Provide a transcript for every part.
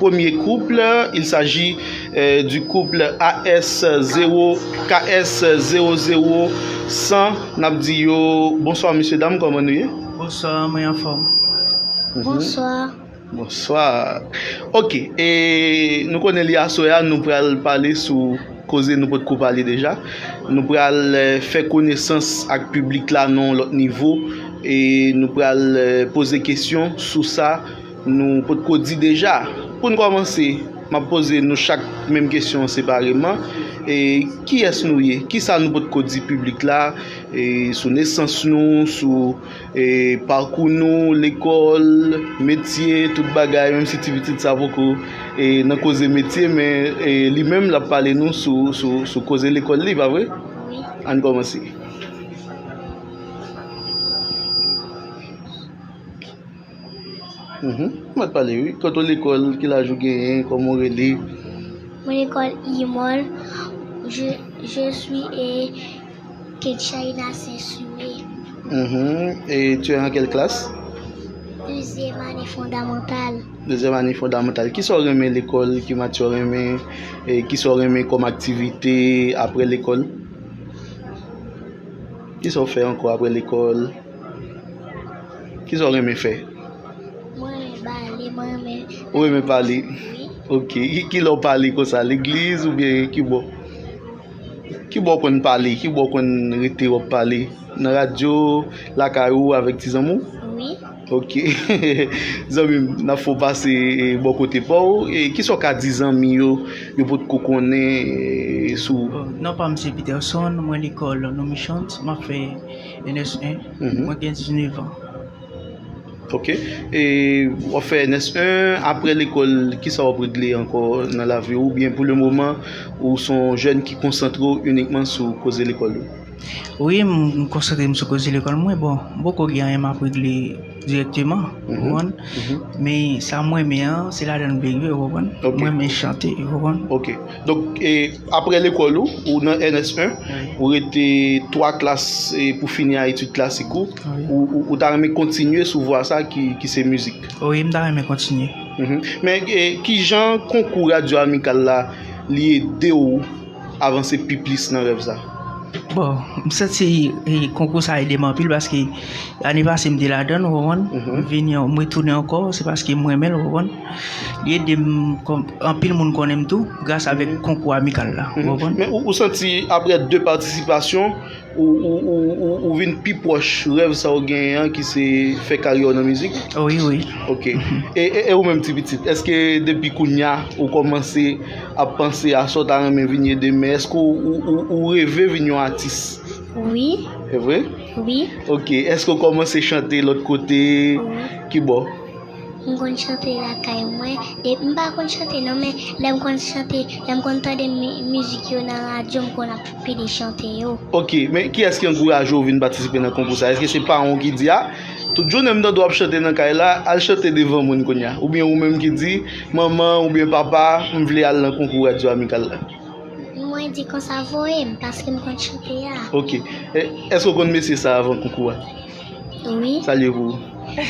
Premye kouple, Il s'aji di kouple AS zewo KS zewo zewo san N ap di yo Bonswa mesye dam kòman nou ye? Bonswa mwen anfòm Bonswa. Bonswa Ok e nou konnen li aswè a nou pral pale sou koze nou potko pale deja Nou pral fè konesans ak piblik la nan yon lòt nivo e nou pral poze kesyon sou sa Nou potko di deja. Pou n kòmanse, m ap poze nou chak menm kesyon an separeman, Kiyès nou ye? Kisa nou potko di piblik la sou nesans nou, sou pakou nou, lekòl, metye, tout bagay, menm si ti pitit sa poko nan koze metye men li menm l ap pale nou sou koze lekòl li, pa vre? Wi. Ann kòmanse. Mwen te pale wi. Kote w lekòl? Ki laj ou genyen? Kòman w rele? Mwen lekòl Imol. Je suis e Kedchaïna Saint-Sumé. E tu es an kèl klas? Dezyèm ane fondamantal. Dezyèm ane fondamantal. Ki sa w renmen lekòl? Ki mati w renmen? Ki sa w renmen kòm aktivite apre lekòl? Ki sa w fè ankò apre lekòl? Ki sa w renmen fè? Mwen renmen pale, mwen renmen... Ou renmen pale? Wi. Ok. Ki lè w pale kon sa? Legliz ou byen ki bò? Ki bò w konn pale? Ki bò w konn rete wap pale? Nan radyo, lakay ou, avèk ti zanmi w? Wi. Ok. Zanmi m, n ap fè w pase bò kote pa w. Ki sa w ka di zanmi yo, yo pot ko konnen sou ou? Non pa m se Peterson, mwen lekòl Noumishans, m ap fè... NS1, mwen gen 19 an. Ok, e wap fè NS1, apre lekòl, ki sa wap regle ankò nan lavi ou, byen pou le moman, ou son jèn ki konsantre ou inikman sou koze lekòl ou? Wi, m konsantre m sou koze lekòl mwen, bon, m poko gen anyen map regle. Direkteman, ou konprann? Men sa mwen renmen an, se ladan m benyen, ou konprann? Mwen renmen chante, ou konprann? Ok. Donk, apre lekòl ou, ou nan NS1, ou rete 3 klas pou fini a etid klasik ou, ou ta renmen kontinye sou vwa sa ki se mizik? Wi, m ta renmen kontinye. Men, ki jan konkou Radyo Amikal la li ede ou? avanse pi plis nan rèv sa. Bon, m santi konkou sa ede m anpil paske ane pase m te ladan l ou konprann, m vini m retounen ankò se paske m renmen l ou konprann. Li ede m anpil moun konnen m tou gras avèk konkou amikal la ou konprann. Men ou santi aprè 2 patisipasyon Ou vin pi pwòch rèv sa ou genyen an ki se fè karyè w nan mizik? Wi, wi. Ok. E ou menm ti pitit, èske depi kounya ou kòmanse ap panse a sa w ta renmen vin ye demen? Èske ou reve vin yon atis? Wi. Se vre? Wi. Ok. Èske ou kòmanse chante lòt kote? Wi. Kibò? M konn chante lakay mwen, m pa konn chante non men lè m konn chante, lè m konn tande mizik yo nan radyo m konn ap pede chante yo. Ok, men kiyès ki ankouraje w vin patisipe nan konkou sa? Èske se paran w ki di a, tout jounen m tande w ap chante nan kay la, al chante devan moun kounya? Oubyen ou menm ki di, manman oubyen papa m vle al nan konkou radyo amikal la? Mwen di konsa voye m paske m konn chante a. Ok, èske w konn mesye sa avan konkou a? Oui. Salye pou.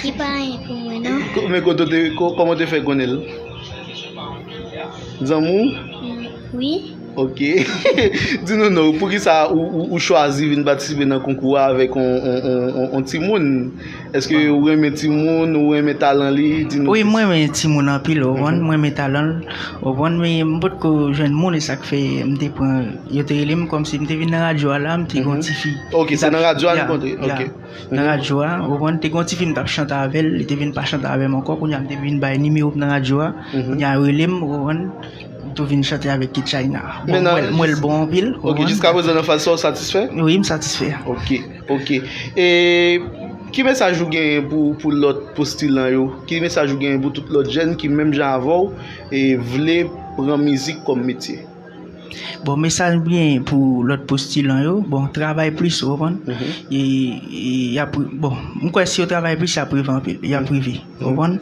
Li pa anyen pou mwen non. Men koto te, koman te fè konnen l? Zanmou? Oui. Ok. Di nou nou, pou ki sa ou chwazi vin patisipe nan konkou a avèk on timoun? Eske ou renmen timoun, ou renmen talan li? Di nou. Oui, mwen renmen timoun anpil, ou konn, mwen renmen talan l, ou konn, men m potko jwenn moun e sa k fè m te pran. Yo te rele m kòm si m te vin nan radyo a la, m te gen yon ti fi. Ok, se nan radyo a nou kontre. Ya, ya. Nan radyo a, ou konprann, te gen yon ti fi m tap chante avè l, li te vin pa chante avè m ankò, kounye a m te vin bay nimewo m nan radyo a, kounye a yo rele m, ou konprann, m tou vin chante avèk K-China. Bon, Menan- mwen- mwen l bon anpil, ou Ok, konprann. jiska prezan nan faz sa ou satisfè? Wi, m satisfè. Ok, ok. E ki mesaj ou genyen pou pou lòt postilan yo? Ki mesaj ou genyen pou tout lòt jèn ki menm jan avè w e vle pran mizik kòm metye? Bon mesaj mgen pou lòt postilan yo, bon travay plis ou konprann, e yap bon m kwè si yo travay plis yap rive anpil, yap rive ou konprann,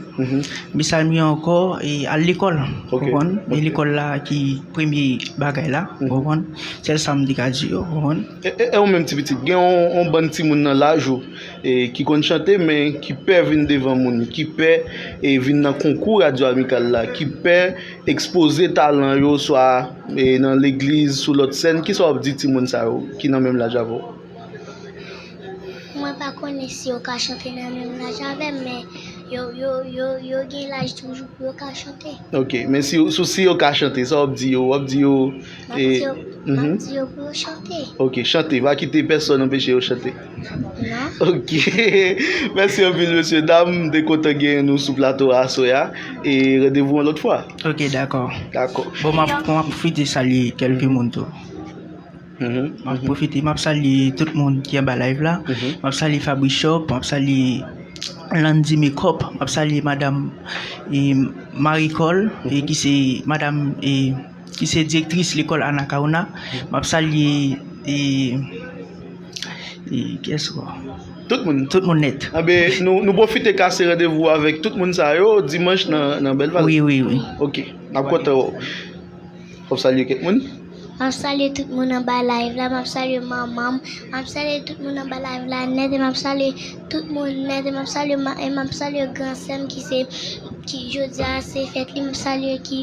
mesaj mgen ankò e al lekòl ou konprann, e lekòl la ki premye bagay la ou konprann, sèl sa m te ka di yo ou konprann. E ou menm ti pitit, gen yon bann timoun nan laj ou ki konn chante men ki pè vin devan moun, ki pè vin nan konkou radyo amikal la, ki pè. Ekspoze talan yo swa nan legliz sou lòt sèn, kisa wap di timoun sa yo ki nan menm laj avèw? Mwen pa konnen si yo ka chante nan menm laj avèm men yo gen laj toujou pou yo ka chante. Ok men si yo ka chante sa wap di yo? Wap di yo Map di yo pou yo chante. Ok chante pa kite pèsòn anpeche yo chante. Ok Mèsi anpil mesye dam m te kontan genyen nou sou plato a aswè a e randevou yon lòt fwa Ok dakò Dakò Bon m ap pwofite salye kèlke moun tou M ap pwofite m ap salye tout moun ki anba layv la M ap salye Fabrishop m ap salye Landy Makeup m ap salye madam Maricol ki se madam ki se direktris lekòl Anacaona, m ap salye e kiyès ankò? Tout moun. Tout moun nèt. Anbe, nou pwofite kase randevou avèk tout moun sa yo dimanch nan Bèl Vale. Wi, wi, wi. Ok, n ap kontan wè w. Fò m salye kèk moun. M ap salye tout moun anba live la, m ap salye manman m, m ap salye tout moun anba live la nèt e m ap salye tout moun nèt e m ap salye gran sè m ki se, ki jodi a se fèt li, m ap salye ki.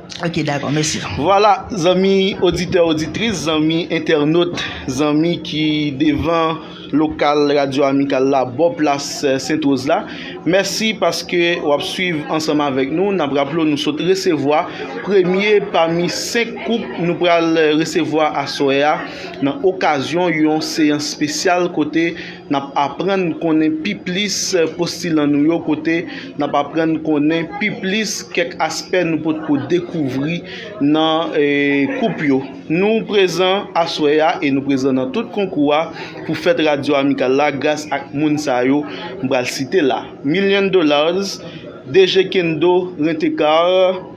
Ok dako mesi. Vwala zanmi oditè oditris, zanmi entènot, zanmi ki devan lokal radyo amikal la bò plas sent woz la mèsi paske wap swiv ansanm avèk nou nap raple w nou sot resevwa premye pami 5 koup nou pral resevwa aswè a nan okazyon yon seyans spesyal kote N ap aprann konnen pi plis postilan nou yo kote n ap aprann konnen pi plis kèk aspè nou pot ko dekouvri nan koup yo. Nou prezan aswè a e nou prezan nan tout konkou a pou fèt Radyo Amikal la gras ak moun sa yo m pral site la, Million Dollars, DG Kendo, Rentecar,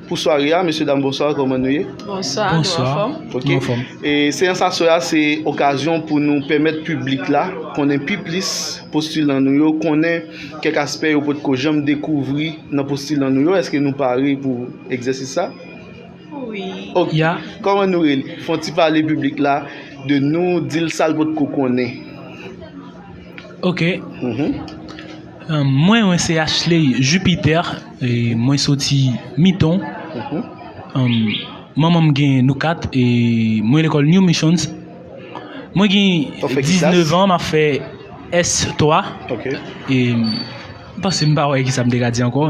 Pou sware a, mesye dam bonswa, kòman nou ye? Bonswa, nou anfòm. Ok, e seyans aswè a se okazyon pou nou pèmèt piblik la konnen pi plis postilan nou yo, konnen kèk aspè yo potko janm dekouvri nan postilan nou yo. Eske nou pare pou egzèsis sa? Wi. Ok, kòman nou rele? Fon ti pale piblik la de nou, di l sa l potko konnen. Ok. Mwen mwen se Ashley Jupiter mwen soti Miton manman m gen nou 4 e mwen lekòl New Missions mwen gen 19 an map fè S3 e m panse m pa wè kisa m te ka di ankò.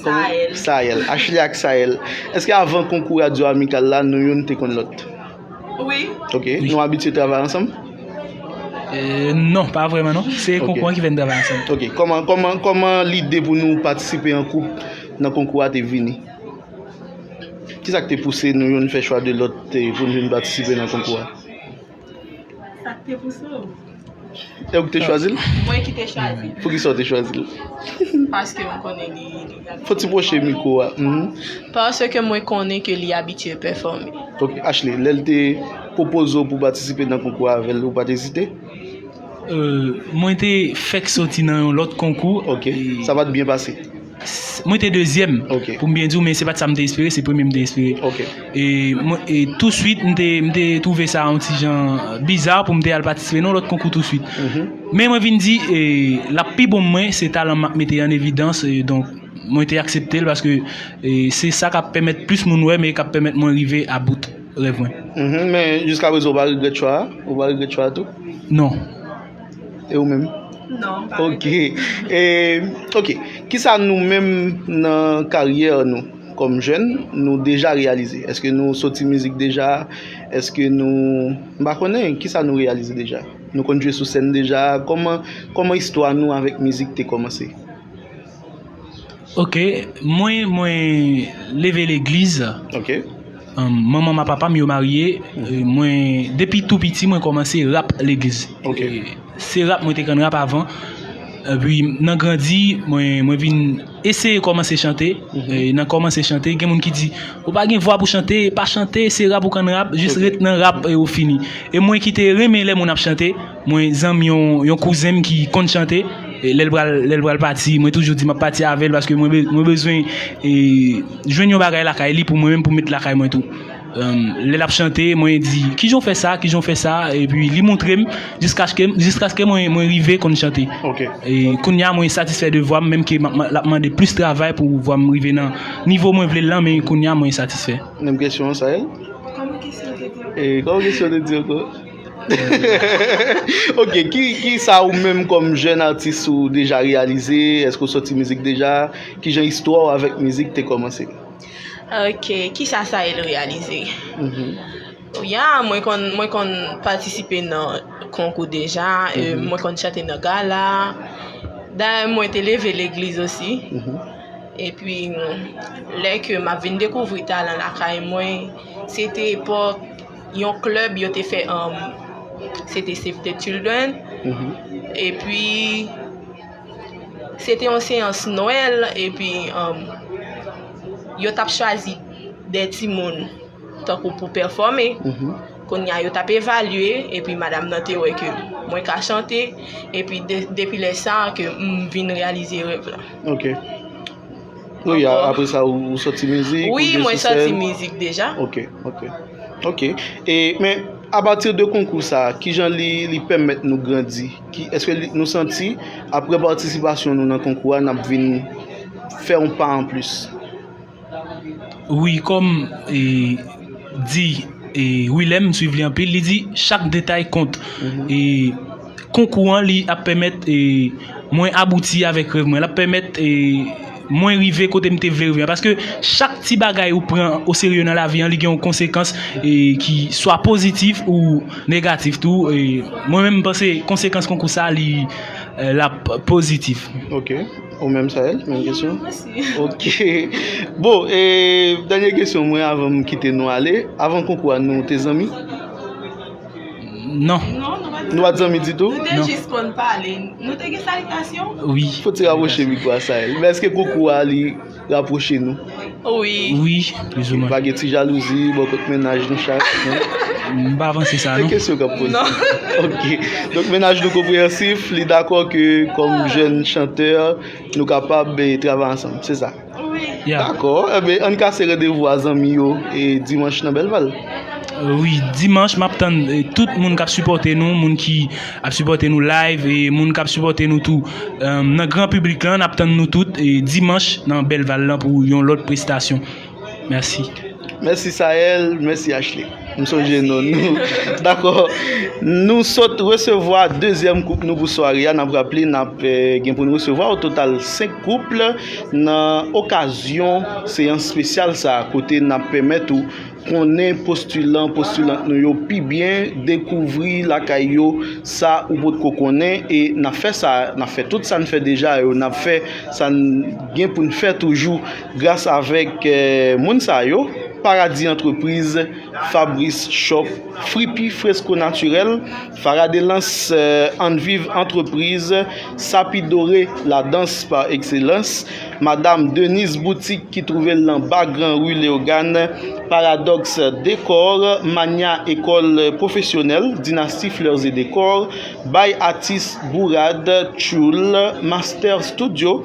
Sahel. Sahel. Ashley ak Sahel. Eske avan konkou radyo amikal la, nou youn te konn lòt? Wi. Ok. Nou abitye travay ansanm? Euh, non, pa vreman non. Se konkou an ki fè n travay ansanm. Ok. Koman, koman, koman lide pou nou patisipe an koup nan konkou a te vini? Kisa ki te pouse nou youn fè chwa de lòt pou nou vin patisipe nan konkou a? Sak te pouse w? E ou ki te chwazi l? Mwen ki te chwazi l. Poukisa ou te chwazi l? Paske mwen konnen li abitye. Fò ti pwoche mikwo a. Paske mwen konnen ke li abitye pèfòme. Ok, Ashley, lè l te pwopoze w pou patisipe nan konkou a avè l, ou pa t ezite? Mwen te fèk soti nan yon lòt konkou. Ok, sa pa t byen pase? Mwen te dezyèm, pou m byen di w, men se pa t sa m te espere, se premye m te espere. E touswit m te twouve sa yon ti jan biza pou m te al patisipe nan yon lòt konkou touswit. Men mwen vin di, l ap pi bon pou mwen, se talan m ap mete an evidans, donk mwen te aksepte l paske se sa k ap pèmèt plis moun wè m e k ap pèmèt mwen rive a bout rèv mwen. Men jiskaprezan ou pa regrèt chwa a? Ou pa regrèt chwa a tou? Non. E ou menm? Non, m pa regrèt. Ok. E, ok. Kisa nou menm nan karyè nou kòm jèn, nou deja reyalize? Eske nou soti mizik deja? Eske nou, m pa konnen. Kisa nou reyalize deja? Nou konn jwe sou sèn deja? Kòman, kòman istwa nou avèk mizik te kòmanse? Ok mwen mwen leve legliz ok manman ma papa m yo marye mwen depi tou piti mwen komanse rap legliz ok se rap mwen te konn rap avan epi nan grandi mwen mwen vin eseye komanse chante nan komanse chante gen moun ki di ou pa gen vwa pou chante pa chante se rap ou konn rap jis ret nan rap ew fini e mwen ki te renmen lè moun ap chante. Mwen zanmi yon kouzen m ki konn chante, lè l pral pati mwen toujou di m ap pati avè l paske mwen bezwen jwenn yon bagay lakay li pou mwen menm pou m met lakay mwen tou. Lè l ap chante mwen di kijan w fè sa, kijan w fè sa epi li montre m jiskaske mwen rive konn chante. Kounya mwen satisfè de vwa m menm ke l ap mande plis travay pou vwa m rive nan nivo mwen vle l lan men kounya mwen satisfè. Menm kesyon an Sael? Koman kesyon an te di ankò? Ok, ki sa ou menm kòm jèn atis ou deja reyalize? Eske ou soti mizik deja? Ki jan istwa ou avèk mizik te kòmanse? Ok, ki sa Sael reyalize? Ya, mwen konn patisipe nan konkou deja, mwen konn chante nan gala. Dayè mwen te leve legliz osi. E pi lè ke m ap vin dekouvri talan lakay mwen, se te epòk. yon klèb yo te fè anm se te Save the Children e pi se te yon seyans Noël e pi anm yo tap chwazi de ti moun tankou pou pèfòme kounye a yo tap evalye e pi madam nan te wè ke mwen ka chante e pi depi lè sa ke m vin reyalize rèv la. Nou ya apre sa ou soti mizik? Ou ye sou sèn? Wi, mwen soti mizik deja. Ok, ok. Ok, e men apatir de konkou sa, ki jan li pèmèt nou grandi? Ki, eske nou santi apre patisipasyon nou nan konkou a, nap vin fè yon pa an plis? Wi, kòm e di e Wilèm, m swiv li anpil, li di chak detay kont. E. Konkou an li ap pèmèt mwen abouti avèk rèv mwen, l ap pèmèt mwen rive kote m te vle rive a paske chak ti bagay ou pran oserye nan lavi an li gen yon konsekans ki swa pozitif ou negatif tou, mwen menm m panse konsekans konkou sa li l ap pozitif. Ok, ou menm Sael menm kesyon? Menm osi. Ok, bon e dènye kesyon mwen avan m kite nou ale, avan konkou a nou te zanmi? Non. Nou pat zanmi ditou? Nou te jis konn pale. Nou te gen salitasyon? Wi. Fò ti rapwoche mikwo a Sahel. Men eske kou kou a li rapwoche nou? Wi. Wi, plis ou mwen. Pa gen ti jalouzi bò kot mennaj nou chak? M pa panse sa non. Se kesyon kap poze. Non. Ok. Donk mennaj nou konpreyansif, li dakò ke kòm jèn chantè, nou kapab travay ansanm. Se sa? Dakò, enben ann kase randevou a zanmi yo e dimanch nan Belval. Wi, dimanch map tann tout moun kap sipòte nou, moun ki ap sipòte nou live e moun kap sipòte nou tou nan gran piblik lan, nap tann nou tout dimanch nan Belval lan pou yon lòt prestasyon. Mèsi. Mèsi Sael, mèsi Ashley. M sonje non nou. Dakò. Nou sot resevwa dezyèm koup nou pou sware a. N ap raple n ap gen pou n resevwa o total 5 koup nan okazyon seyans espesyal sa a kote n ap pèmèt ou konnen postilan, postilant nou yo pi byen, dekouvri lakay yo sa ou potko konnen e n ap fè sa, n ap fè tout sa n fè deja yo, n ap fè sa n gen pou n fè toujou. Gras avèk moun sa yo, Paradis Entreprise, Fabrice Shop, Fripi Fresco Naturel, Farah Delance Ann Viv Entreprise, Sapi Doré La Danse par Excellence, Madame Denise Boutique ki twouve l nan Ba Gran Rue Léogâne, Paradox Decor, Mania École Professionnelle, Dynastie Fleurs et Décor, Baye Atis, Bourad, Tchoul, Master Studio,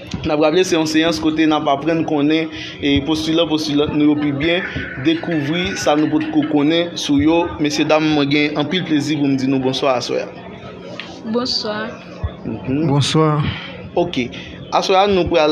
N ap raple se yon seyans kote n ap aprann konnen postilan, postilant nou yo pi byen, dekouvri sa nou potko konnen sou yo. Mesye dam mwen gen anpil plezi pou m di nou bonswa aswè a. Bonswa. Bonswa. Ok. Aswè a nou pral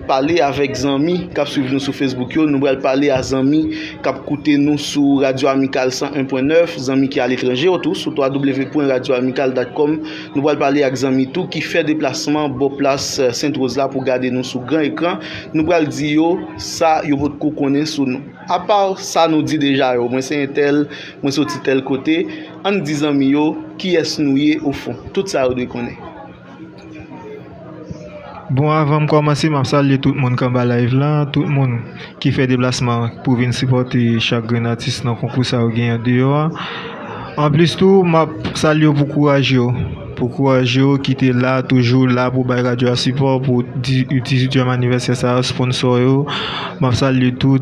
pale avèk zanmi k ap swiv nou sou Facebook yo, nou pral pale a zanmi k ap koute nou sou Radyo Amikal 101.9, zanmi ki aletranje yo tou sou www pwen radyoamikal dat kòm. Nou pral pale ak zanmi tou ki fè deplasman bò plas Sent Woz la pou gade nou sou gran ekran. Nou pral di yo sa yo potko konnen sou nou. Apa sa nou di deja yo, mwen se entèl, mwen soti tèl kote, ann di zanmi yo kiyès nou ye ofon. Tout sa yo dwe konnen. Bon avanm kòmanse map salye tout moun k anba live la tout moun ki fè deplasman pou vin sipòte chak grenn atis nan konkou sa yo gen andeyò a anplis tou map salye yo pou kouraj yo pou kouraj yo ki te la toujou la pou bay radyo a sipò pou 18 èm anivèsè sa sponsò yo map salye tout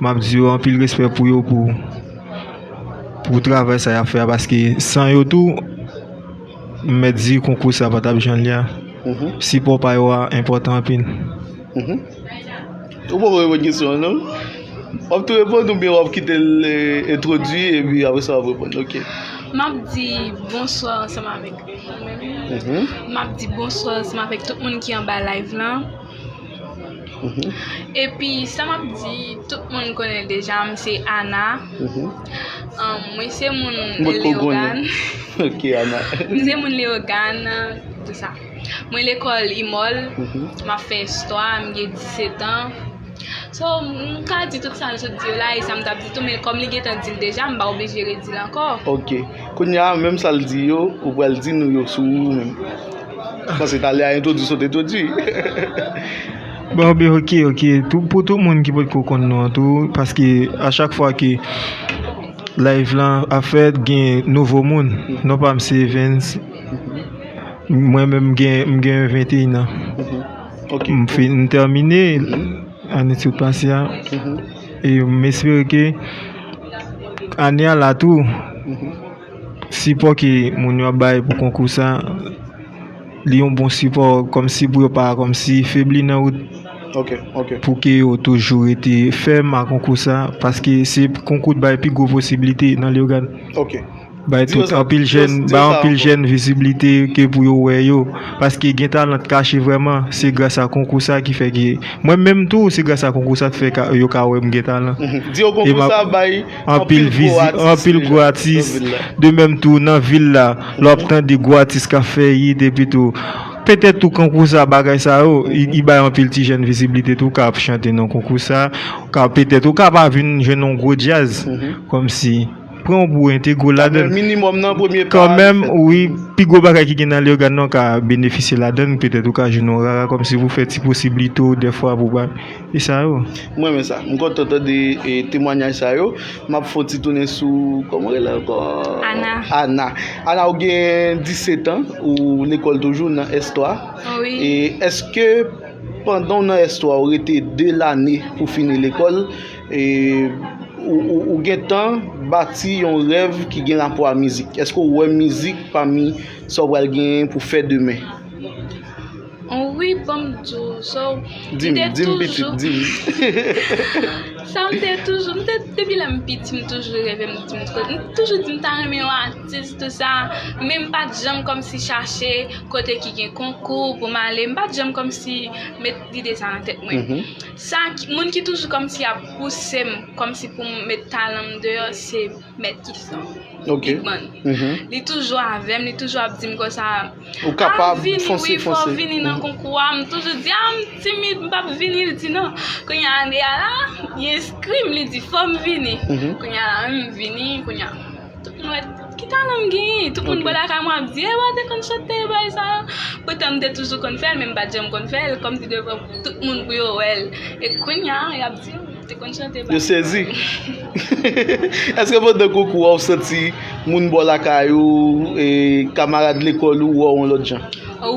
map di yo anpil respè pou yo pou travay sa yap fè a paske san yo tou M mèt di konkou sa pa t ap jan l ye a. Sipò pa yo a enpòtan anpil. Ou poko reponn kesyon an non. W ap tou reponn oubyen w ap kite l entwodui epi apre sa w ap reponn? Ok. M ap di bonswa ansanm avèk mwen menm. M ap di bonswa ansanm avèk tout moun ki anba live lan. Epi sa map di tout moun konnen deja m se Ana mwen se moun Leogane mwen se moun Leogane mwen lekòl imòl map fè istwa m gen 17 an so m ka di tout sa m sot di yo la e sa m tap di tou men kòm li gentan di l deja m pa oblije redi l ankò ok kounya menm sa l di yo ou pral di nou yo sou ou menm Pase tale a entwodwi sot entwodwi. Bon be ok ok tou pou tout moun ki pot ko konn nou an tou paske a chak fwa ke live lan ap fèt gen nouvo moun non pam se evens mwen menm gen m gen 21 an ok m fin m tèmine ane sot pase a e m espere ke ane a la tou Sipò ke moun yo ap bay pou konkou sa, li yon bon sipò kòmsi pou yo pa kòmsi febli nan wout pou ke yo toujou rete fèm a konkou sa, paske se konkou t bay pi gwo posiblite nan Leyogàn. Bay tout anpil jèn, bay anpil jèn viziblite ke pou yo wè yo, paske gen talan t kache vrèman, se gras a konkou sa ki fè ke mwen menm tou se gras a konkou sa k fè yo ka wè m gen talan. Anpil vizit, anpil gwo atis. De menm tou nan vil la, lè w ap tande gwo atis k ap fè it epi tou. Petèt tou konkou sa, bagay sa yo, li bay anpil ti jèn viziblite tou ka ap chante nan konkou sa. Ou ka petèt, ou ka pa vin jwenn yon gwo djaz kòmsi. Pran w pou w entegre w ladan l. Kanmenm, wi, pi gwo bagay ki gen nan Leyogàn nan ou ka benefisye ladan l. Petèt ou ka jwenn yon rara kòmsi pou fè ti posiblite w dèfwa pou w bay. Fi sa yo. M renmen sa. M kontan tande temwanyaj sa yo. M ap fè yon ti tounen sou kòman ou rele l ankò? Ana. Ana. Ana ou gen 17 an, ou lekòl toujou nan S 3. Wi. E èske pandan w nan S 3 ou rete 2 lane pou fini lekòl e ou gen tan bati yon rèv ki gen rapò a mizik? Èske ou wè mizik pami sa ou pral gen pou fè demen? Wi banm di w sa w Di m di m pitit di m Sa m te toujou m te depi lè m piti m toujou reve m di m toujou di m ta renmen yon atis tou sa men m pa t janm kòmsi chache kote ki gen konkou pou m ale m pa t janm kòmsi met lide sa nan tèt mwen sa moun ki toujou kòmsi ap pouse m kòmsi pou m met talan m deyò se mèt kiflò bigman li toujou avè m li toujou ap di m konsa Ou kapab, fonse, fonse. Mwen vini wi, fò m vini nan konkou a. M toujou di, a m timid, m pa p vini. Li di non. Kounye a, ane a la, li enskri m, li di fò m vini. Kounye a la menm, m vini, kounye a. Tout moun wè, ki talan m genyen? Tout moun bò lakay mwen ap di, e wè, te konn chante, e bagay sa yo. Poutan m te toujou konn fè l, men m pa t janm konn fè l. Kòm si devan tout moun pou yo wè l. E kounye a, y ap di. Yo sezi. Eske pandan konkou a ou santi moun bò lakay ou, kamarad lekòl ou wè w yon lòt jan?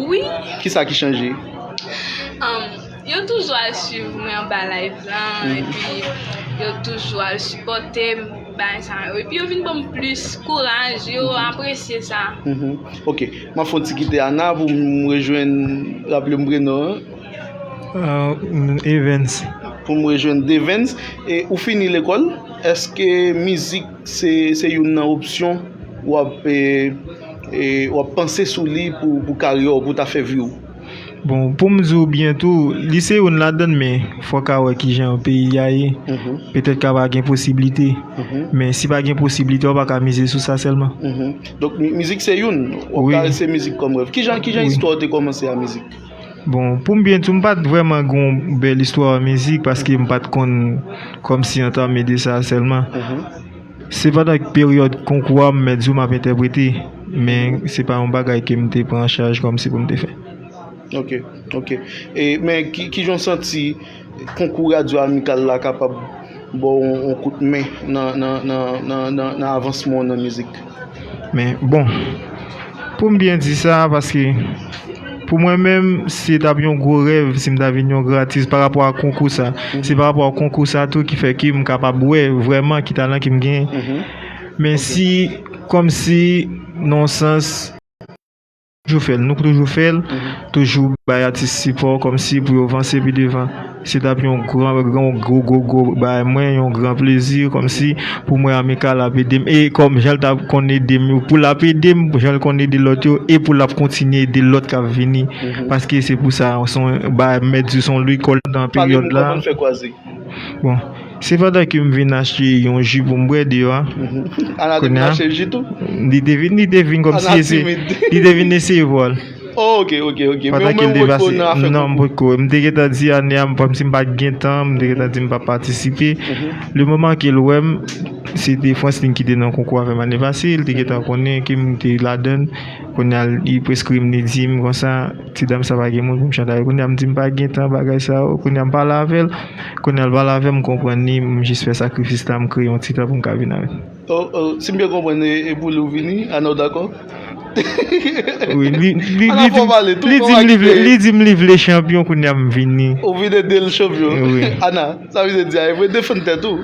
Wi. Ki sa ki chanje? Yo toujou al swiv mwen anba live lan epi yo toujou al sipòte m bagay sa yo. Epi yo vin ban m plis kouraj, yo apresye sa. Ok. M ap fè yon ti kite Ana pou m rejwenn, raple m prenon an. Evens. Pou m rejwenn Devens. E ou fini lekòl, èske mizik se youn nan opsyon w ap panse sou li pou karyè w, pou ta fè vi w? Bon, pou m di w byen tou, li se youn ladan l men, fò w ka wè ki jan peyi a ye. Petèt ka pa gen posiblite. Men si pa gen posiblite, w pa ka mize sou sa sèlman. Donk mizik se youn, w ap ka rete mizik kòm rèv. Ki jan istwa w te kòmanse ak mizik? Bon, pou m byen di w, m pa t vrèman gen yon bèl istwa an mizik paske m pa t konn kòmsi antame de sa sèlman. Se pandan peryòd konkou a m mèt di w m ap entèprete, men se pa yon bagay ke m te pran an chaj kòmsi pou m te fè. Ok, ok. E, men ki jan w santi? Konkou radyo amikal la kapab ba w yon kout men nan avansman w nan mizik. Men bon, pou m byen di sa, paske pou mwen menm, se t ap yon gwo rèv si m ta vin yon gran atis parapò a konkou sa. Se parapò a konkou sa tou ki fè ke m kapab wè vrèman ki talan ke m genyen. Men si, kòmsi nan yon sans. Toujou fèl nou k toujou fèl toujou bay atis sipò kòmsi pou yo vanse pi devan se tap yon gran yon gwo gwo gwo bagay mwen yon gran plezi kòmsi pou mwen amikal ap edem e kòm janl ta konn edem yo pou lap edem janl konn ede lòt yo e pou lap kontinye ede lòt kap vini paske se pou sa son bagay mèt di son lekòl nan peryòd la. Bon, se pandan ke m vin achte yon ji pou m bwè deyò a. Ana te vin achte ji tou? Li te vin, li te vin kòm si se, li te vin eseye vwa l. Ok, ok, ok. Men w menm ou pa t ko nan afè konkou? Non, m pa t ko. M te gen tan di ane a, kòm si m pa t gen tan, m te gen tan di m pa p patisipe. Le moman ke l wè m, se te Franslin ki te nan konkou avè m ane pase, li te gen tan konnen ke m te ladan l. Kounye a, li preskri m, li di m konsa. Ti dam sa pa gen moun pou m chante avèk. Kounye a m di m pa gen tan bagay sa yo. Kounye a m pale avè l. Kounye a l pale avè m, m konprann li. M jis fè sakrifis la, m kreye yon ti tan pou m ka vin avè l. O, o, si m byen konprann e pou li w vini, Ana w dakò? Wi, li, li, li di m, li di m li vle, li di m li vle chanpyon kounye a m vini. Ou vin ede l chanpyon? Wi. Ana, sa vin di a e pou defann tèt ou?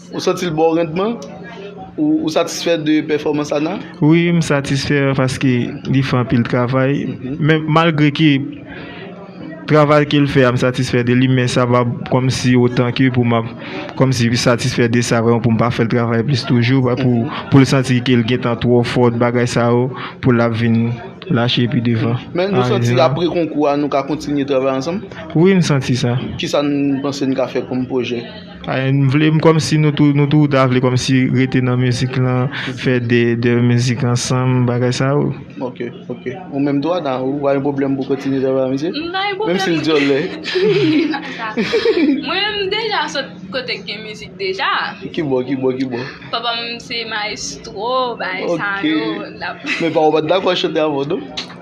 Ou santi l ba w randman? Ou satisfè de pèfòmans Ana? Wi, m satisfè paske li fè anpil travay. Men malgre ke travay ke l fè a m satisfè de li men sa pa kòmsi otan ke pou m ap kòmsi satisfè de sa pou m pa fè l travay plis toujou pou l santi ke l gentan twò fò bagay sa yo pou l ap vin lache pi devan. Men nou santi apre konkou a nou ka kontinye travay ansanm? Wi, m santi sa. Kisa n panse n ka fè kòm pwojè? M vle kòmsi nou tou nou tou ta vle kòmsi rete nan mizik lan fè de de mizik ansanm bagay sa yo. Ok ok ou menm tou Ana ou pa gen pwoblèm pou kontinye travay ak misye? M pa gen pwoblèm. Menm si l dyòl lè. Mwen menm m deja sot kote k gen mizik deja. Ki bò ki bò ki bò? Papa m se maestro bagay sa yo. Ok men pa w pa t dakò chante avan non?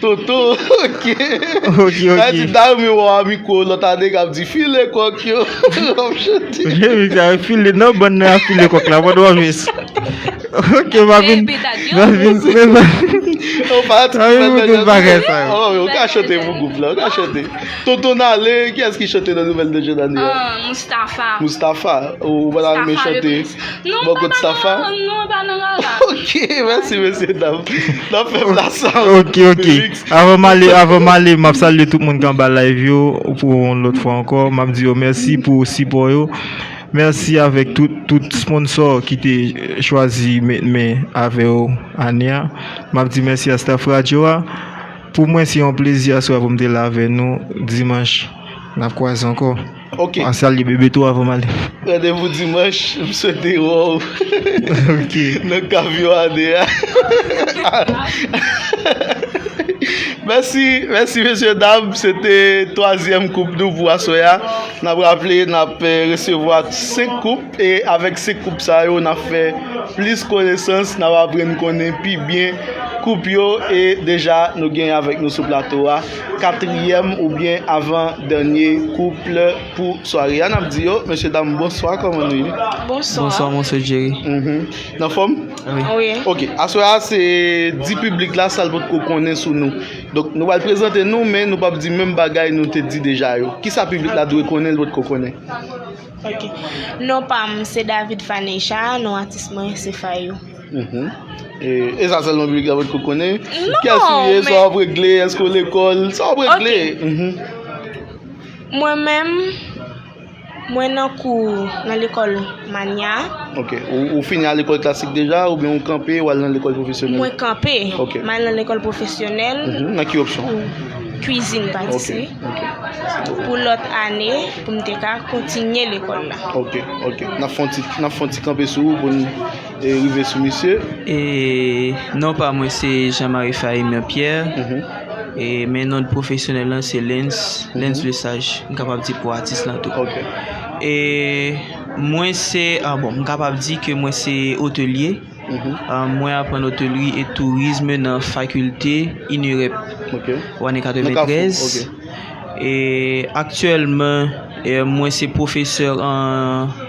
Toto ok Sa di dayou mi wè w a mikwo lòt ane k ap di file kòk yo Wap chante Remix la file nan bann nan y ap file kòk la pandan w ap jwe s Ok m ap vin M ap vin M ap vin mete m bagay sa yo Ou ka chante pou gwoup la ou ka chante Toto n ale kiyès ki chante nan nouvèl de jèn ane a Moustafa Moustafa Ou pral al men chante Non mwen pa nan rara. Non mwen pa nan rara. Ok mèsi mesye dam. Nap fè m la sa. Ok ok. Avan m ale avan m ale map salye tout moun ki anba live yo pou yon lòt fwa ankò. Map di yo mèsi pou sipò yo. Mèsi avèk tout tout sponsor ki te chwazi met men avè yo ane a. Map di mèsi a staff radyo a. Pou mwen se yon plezi aswè a pou m te la avè nou. Dimanch nap kwaze ankò. Ok. An salye bebe tou avan m ale. Randevou dimanch, m swete w wè w Ok. nan kav yon ane a. Mèsi, mèsi mesye dam, se te twazyèm koup nou pou aswè a. N ap raple n ap resevwa 5 koup e avèk 5 koup sa yo n ap fè plis konesans, n ap aprann konnen pi byen koup yo e deja nou gen avèk nou sou plato a Katriyèm oubyen avan dènye kouple pou sware a nap di yo. Mesye dam bonswa kòman nou ye? Bonswa. Bonswa monsye Jerry. Mhm. Nan fòm? Wi. Wi. Ok, aswè a se di piblik la sal pot ko konnen sou nou. Donk nou pral prezante nou men nou pap di menm bagay nou te di deja yo. Kisa piblik la dwe konnen l pot ko konnen? Ok. Non pam se David Faneca, non atis mwen se Fayou. E sa selman bibi klè pot ko konnen? Non! Kiyès ou ye, sa wap regle, eske w lekòl, sa wap regle? Ok. Mwen menm, mwen nan kou nan lekòl manya. Ok. Ou fini a lekòl klasik deja ou byen ou kanpe wal nan lekòl pwofesyonèl? Mwen kanpe. Ok. Mwen al nan lekòl pwofesyonèl. Nan ki opsyon? Kwizin patisri. Ok. Ok. Pou lòt ane, pou m te ka kontinye lekòl la. Ok. Ok. Nap fon ti, nap fon ti kanpe sou ou pou n. rive sou misye. E non pa mwen se Jean Marie Phaimien Pierre e men non pwofesyonèl lan se Lens, Lens le sage m kapab di pou atis lan tou. E mwen se bon m kapab di ke mwen se otelye, mwen aprann otelri e tourisme nan fakilte INEREP ou ane 93 e aktyèlman mwen se pwofesè an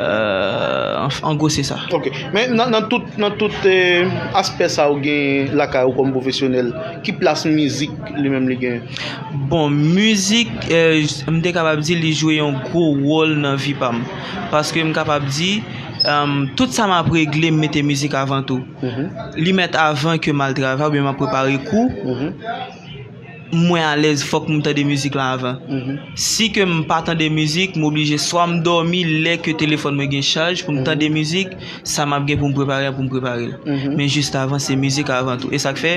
An gwo se sa. Ok. Men nan tout, nan tout aspè sa ou genyen lakay ou kòm pwofesyonèl, ki plas mizik li menm li genyen? Bon, mizik, m te kapab di li jwe yon gwo wòl nan vi pa m. Paske m kapab di, tout sa m ap regle m mete mizik avan tou. Li mèt avan ke m al travay oubyen m ap prepare kou. mwen alèz fòk m tande mizik la avan. Si ke m pa tande mizik, m oblije swa m dòmi lè ke telefòn mwen gen chaj pou m tande mizik, sa m ap gen pou m prepare a pou m prepare l. Men jis avan se mizik avan tou. E sa k fè,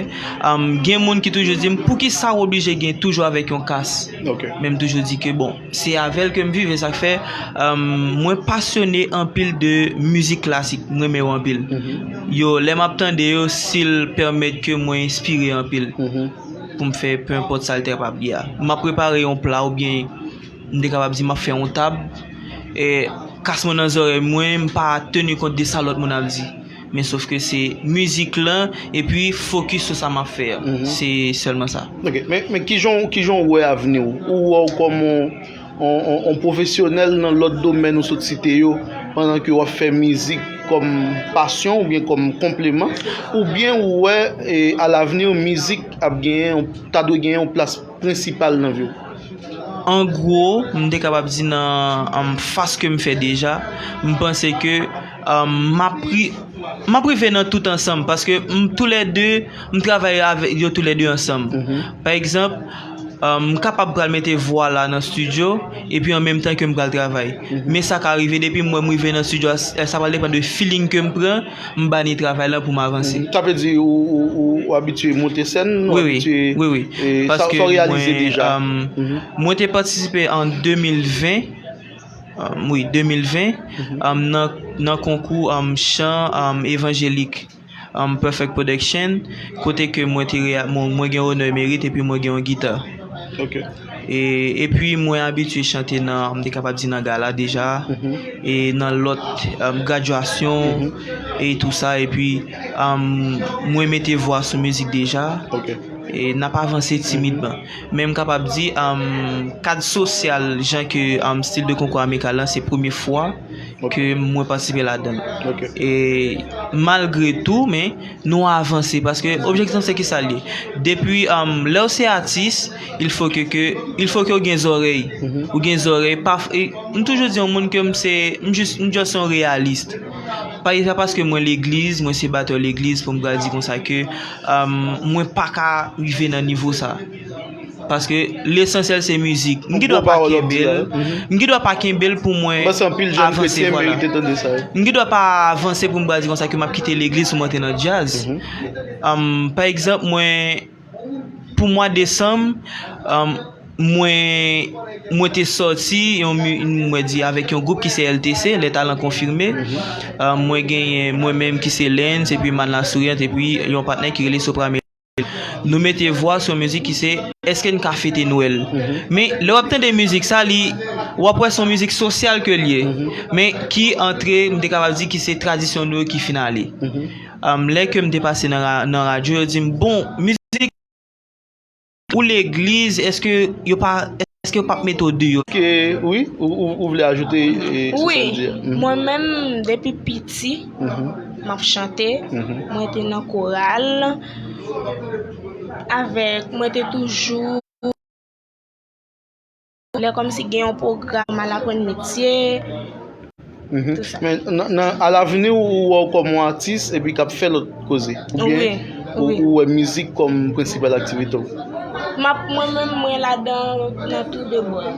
gen moun ki toujou di m, poukisa w oblije gen toujou avèk yon kas? Men m toujou di ke bon. Se avèl kem viv e sak fè mwen pasyone anpil de mizik klasik m renmen yo anpil yo lè map tande yo sil pèmèt ke mwen enspire anpil poum fè pe enpòt sal te kapab ye a map prepare yon pla oubyen m te kapab di map fè yon tab kas mwen nan zòrèy mwen m pa teni kont de sa lòt moun ap di. Men sof ke se mizik lan e pi fokis sou sa map fè a. Se sèlman sa. Ok, men kijan ou wè avni ou? Ou wè ou kòm yon pwofesyonèl nan lòt domèn ou sot site yo pandan ke wap fè mizik kòm pasyon ou byen kòm konpleman? Ou byen ou wè a lavni mizik ap genyen yon, ta dwe genyen yon plas prensipal nan vi ou? An gwo, m te kapab di nan fas kem fè deja, m panse ke. M ap rive nan tout ansanm paske m tou lè 2 m travay avèk yo tou lè 2 ansanm pa egzanp m kapab pral mete vwa la nan stidyo epi an menm tan ke m pral travay men sa ka rive depi m wè m rive nan stidyo a sa pral depann de filing ke m pran m bani travay la pou m avanse sa vle di ou abitye monte sèn ou abitye wi wi wi paske mwen mwen te patisipe an 2020 Wi, 2020, nan konkou chan evanjelik Perfect Production, kote ke mwen te mwen gen onè merit epi mwen gen yon gita. Ok. E epi mwen abitye chante nan, m te kapab di nan gala deja, e nan lòt gradyasyon e tou sa, epi mwen mete vwa sou mizik deja, e n ap avanse timidman. Men m kapab di kad sosyal jan ke stil de konkou amikal lan se premye fwa ke mwen patisipe ladan l. E malgre tou men nou avanse paske objektif lan se ki sa l ye? Depi lè w se atis il fo ke ke il fo ke w gen zòrèy. Ou gen zòrèy pa m toujou di yon moun ke m se m jis m just yon reyalist. Pa e pa paske mwen legliz mwen se batè legliz pou m pral di konsa ke Mwen paka rive nan nivo sa Paske lesansyèl se mizik M gidwa pa kenbel M gidwa pa kenbel pou mwen avanse vwala M gidwa pa avanse pou m bal di konsa ke m ap kite legliz pou m antre nan djaz Pa egzanp mwen Pou mwa desanm Mwen te soti avèk yon gwoup ki se LTC, Les Talents Confirmés. Mwen genyen mwen menm ki se Lens epi Mann La Souriante epi yon patnè ki rele Sopramelody. Nou mete vwa sou yon mizik ki se Eske n ka fete Nwèl? Men, lè w ap tande mizik sa, li, w ap wè se yon mizik sosyal ke l ye. Men, ki antre, m te kapab di ki se tradisyon nou yo ki fin ale. Lè ke m te pase nan radyo, yo di m, bon, mizik. Pou legliz eske yo pa eske yo pap mete w deyò. Ke wi ou vle ajoute sou sa l di a. Wi mwen menm depi piti map chante mwen te nan koral avèk mwen te toujou. Lè kòmsi gen yon pwogram al aprann metye. Men a lavni ou wè w kòm yon atis epi k ap fè lòt koze? Oubyen ou wè mizik kòm prensipal aktivite w? Mwen menm mwen ladan nan tou de bò yo.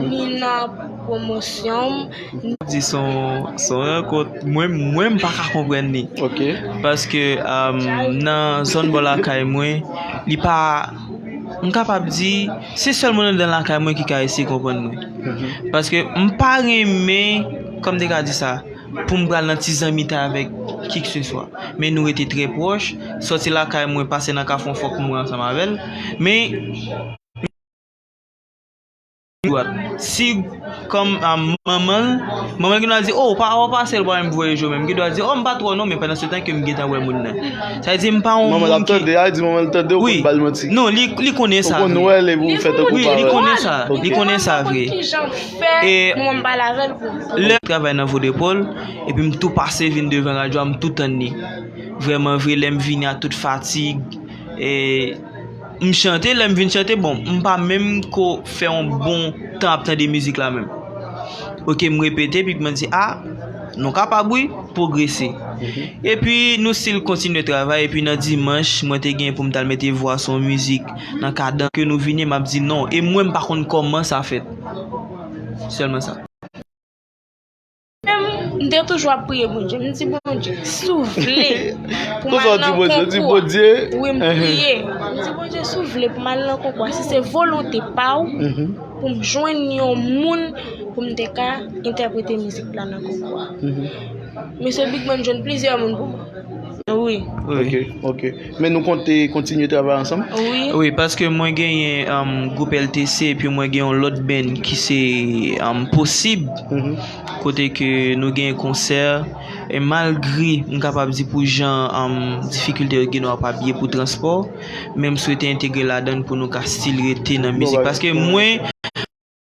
Ni nan pwomosyon m. Di s on rankont mwen menm m pa ka konprann li. Paske nan zòn bò lakay mwen li pa. m kapab di, se sèl moun anndan lakay mwen ki ka eseye konprann mwen. Paske m pa renmen, kòm m te ka di sa, pou m pral nan ti zanmitay avèk kikseswa. Men nou rete trè pwòch, sòti lakay mwen, pase nan kafou an fòk m mouri ansanm avè l. Men. Sig kòm manman l, manman l gen dwa di, o, pa wè w pase l pou al m voye je w menm. Gen dwa di, o, m pa twò non men pandan se tan ke m gentan wè moun nan. Sa vle di m pa yon moun ki. Manman l ap tande a, di manman l tande ou konn ba l manti. Wi, non, li konnen sa vre. Ou konn wè l epi ou fè tankou w pa wè l. Wi, li konnen sa, li konnen sa vre. Li konnen ki jan pou fè pou mwen m pale avè l pou. Lè m travay nan Vodepol epi m tou pase vin devan radyo a m tou tann li. Vrèman vre lè m vini a tout fatig e. M chante, lè m fin chante, bon, m pa menm ko fè yon bon tan ap tande mizik la menm. Ok, m repete, epi kman di, a, nou kapab wi, pwogrese. Epi, nou stil kontinye travay, epi nan dimanch, mwen te gen pou m t al mete vwa sou yon mizik, nan kadan ke nou vini, m ap di non, e mwen m pa konn kòman sa fèt. Sèlman sa. Menm, m te toujou ap priye Bondye. M di Bondye, si w vle pou m al nan konkou a. Kousa w di Bondye? Wi, m priye. M di Bondye, si w vle pou m al nan konkou a, si se volonte pa w, pou m jwenn yon moun pou m te ka entèprete mizik la nan konkou a. Mesye Big Man jwenn plizyè moun pou mwen. Wi. Ok, ok. Men nou konte kontinye travay ansanm? Wi, paske mwen genyen gwoup LTC epi mwen gen yon lòt band ki se Posib kote ke nou gen konsè e malgre m kapab di pou jan difikilte yo gen nou ap abiye pou transpò men m swete entegre ladann pou nou ka stil rete nan mizik paske mwen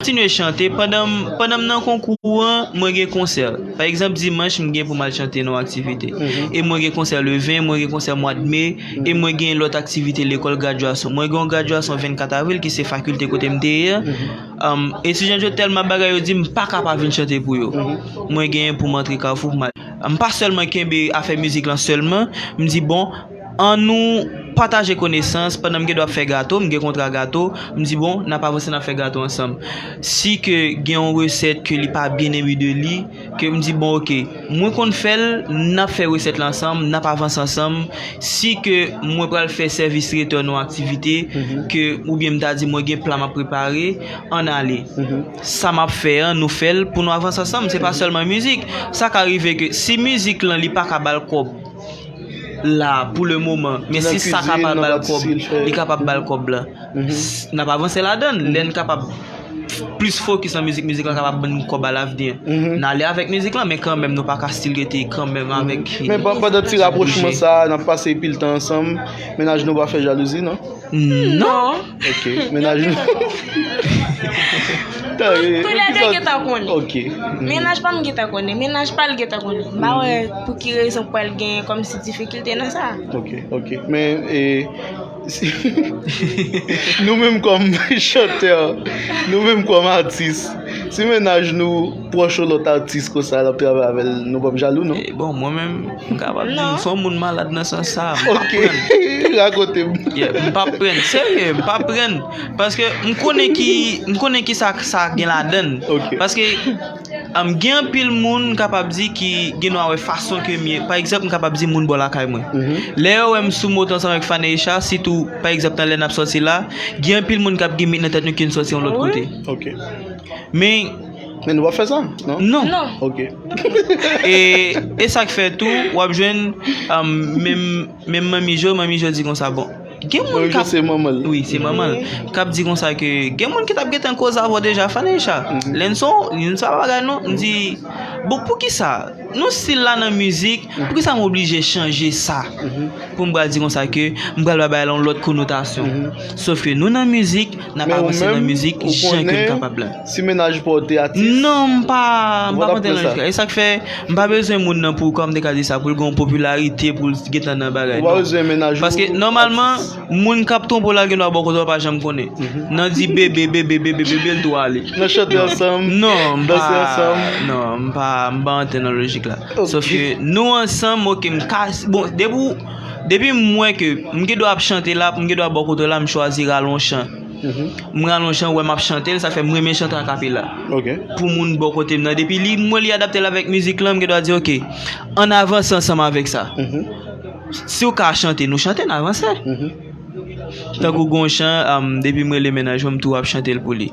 Kontinye chante, pandan m nan konkou an, mwen gen konsè. Pa egzanp dimanch m gen pou m al chante nan yon aktivite. E mwen gen konsè le 20, mwen gen konsè mwad me, e mwen gen lòt aktivite lekòl gradyasyon. Mwen gen yon gradyasyon 24 avril ki se fakilte kote m te ye a. Etidyan yo tèlman bagay yo di m pa ka pa vin chante pou yo. Mwen gen pou m antre kafou pou m al. M pa sèlman kenbe afè mizik lan sèlman, m di bon. An nou pataje konesans, pandan m gen dwa ap fè gato, m gen kontra gato, m di bon, n ap avanse n ap fè gato ansanm. Si ke gen yon resèt ke li pa byen enbi de li, ke m di bon ok, mwen konn fè l, n ap fè resèt la ansanm, n ap avanse ansanm. Si ke mwen pral fè sèvis tretè nou aktivite, ke oubyen m ta di mwen gen pla m ap prepare, an n ale. Sa m ap fè an, nou fè l pou nou avanse ansanm, se pa sèlman mizik. Sa ka rive ke si mizik lan li pa ka ba l kòb, la pou le moman men si sa kapab bal kob li kapab bal kob la nap avanse ladann lè n kapab plis fokis nan mizik mizik lan kapab ban nou kob alavni an n ale avèk mizik lan men kanmèm nou paka stil rete kanmèm avèk men pandan ti rapwochman sa nap pase pil tan ansanm mennaj nou pa fè jalouzi nan nan Ok, menaj nou. Tou lè de gen ta konnen. Ok. Menaj pa m gen ta konnen, menaj pa l gen ta konnen. M pa wè pou ki rezon pou al gen kòm si difikilte nan sa. Ok, ok. Men, e, nou menm kòm chantè, nou menm kòm atis, si menaj nou pwòch yon lòt atis konsa l ap travay avè l, nou pa p jalou non? Bon, mwen menm. Ou kapab di m fò moun malad nan sans sa a. M pap pran. Ok, rakonte m. Yeah, m pap pran. Serye, m pap pran. Paske m konnen ki, m konnen ki sa sa gen ladann. Ok. Paske gen anpil moun m kapab di ki gen dwa wè fason ke m ye. Pa egzanp m kapab di moun bò lakay mwen. Lè yo wè m sou moto ansanm avèk Fane Richard, sitou pa egzanp nan lè n ap sòti la, gen anpil moun k ap gen mit nan tèt nou ke n sòti yon lòt kote. Ok. Men. Men nou pa fè sa, non? Non. Non. Ok. E, e sa k fè tou, w ap jwenn um, menm menm manmi Jo, manmi Jo di konsa bon. Gen moun Manmi Jo kap se manman l. Oui, se manman l. Kap di konsa ke gen moun ki tap gentan koz avò deja Faneisha. Lenson, li di sa pa bagay non. M di bon pou ki sa? Nou stil la nan mizik, pou ki sa m oblije chanje sa? Pou m pral di konsa ke m pral ba bagay la yon lòt konotasyon. Sof ke nou nan mizik, Nap avanse nan mizik jan ke n kapab la. Non m pa konte nan mizik la. E sak fè m pa bezwen moun nan pou kòm m te ka di sa pou l gen yon popilarite pou l gentan nan bagay non. Paske nòmalman moun kap twonpe w la gendwa ba w kote w pa janm konnen. Nan di bebe bebe bebe bebe l tou ale. Non m pa non m pa antre nan lojik la. Sof ke nou ansanm ok m ka bon depi w. Depi m wè ke m gen dwa ap chante la, m gen dwa bò kote w la, m chwazi rale yon chan. M rale yon chan, ou wè m ap chante l, sa fè m renmen chante akapela. Pou moun bò kote m nan, depi li, m wè li adapte l avèk mizik lan, m gen dwa di ok, ann avanse ansanm avèk sa. Si w ka chante, nou chante, n avanse. Tankou gen yon chan, depi m rele mennaj mwen, m toujou ap chante l pou li.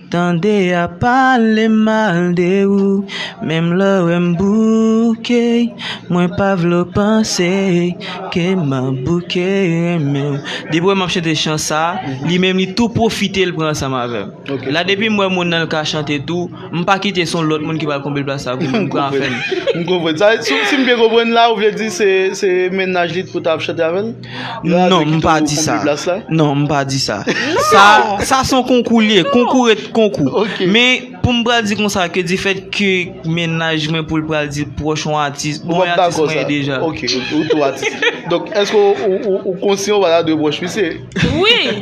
Tande ya pale mal de ou menm lè yo wèm bouke mwen pa vle w panse ke map bouke renmen w. Depi wè map chante chan sa li menm li tou pwofite l pran ansanm avèm la depim wè moun nan lka chante tou mpa kite son lòt moun ki pral konble plas la pou mwen mwen pran afèm. M konprann. Sa vle di, si m byen konprann la, ou vle di se se mennaj li t pou ta ap chante avè l? Non m pa di sa Non m pa di sa Sa son konkou li ye Konkou ret konkou Men pou m pral di konsa Ke di fèt ke mennaj mwen Pou l pral di l pwòch yon atis Bon mwen atis mwen ye deja Donk èske ou konsyan ou pa ta dwe pwòch misye Wi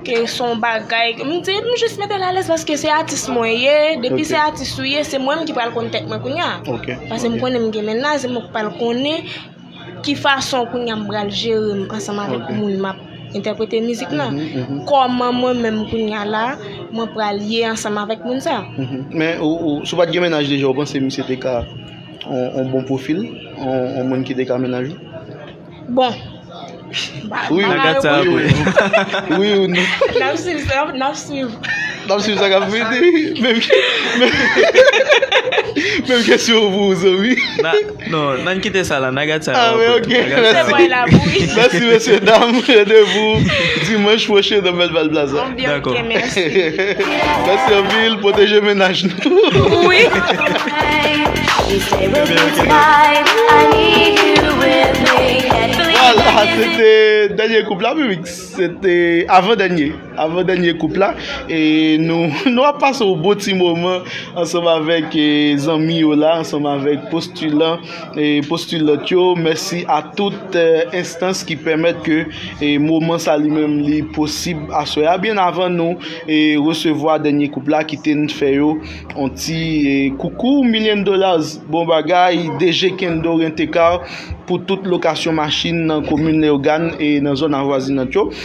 Ke son bagay m di m jis mete l alèz paske se atis mwen ye, depi se atis ou ye se mwen menm ki pral konn tèt mwen kounya. Pase m konnen m gen mennaj se mwen ki pral konnen ki fason kounya m pral jere m ansanm avèk moun m ap entèprete mizik lan. Kòman mwen menm kounya la mwen pral ye ansanm avèk moun sa. Men ou si w pat gen mennaj deja ou panse misye te ka yon bon pwofil, yon moun ki te ka mennaj ou? Bon. Wi wi. Gad sa ap fèt. Wi ou non. Nap swiv sa ap nap swiv. Nap swiv sa kap fèt wi. Menm ke menm kesyon pou ou zanmi. Non nan kite sa la nan gad sa ap fèt. Ok mèsi. Mèsi mesye dam. Rendez vous dimanche prochain nan Belval plaza. Dako. Mèsi anpil, pwoteje mennaj nou. Vwala, se te dènye koup la wi Mix. Se te avan dènye, avan dènye koup la. E nou, nou ap pase yon bon ti moman ansanm avèk zanmi yo la, ansanm avèk postilan. postulant yo, mèsi a tout enstans ki pèmèt ke moman sa li menm li posib aswè a byen avan nou resevwa dènye koup la kite n fè yo on ti koukou million dollars bon bagay DG Kendo Rent-A-Car pou tout lokasyon machin nan komin Leyogàn e nan zòn avwazinant yo.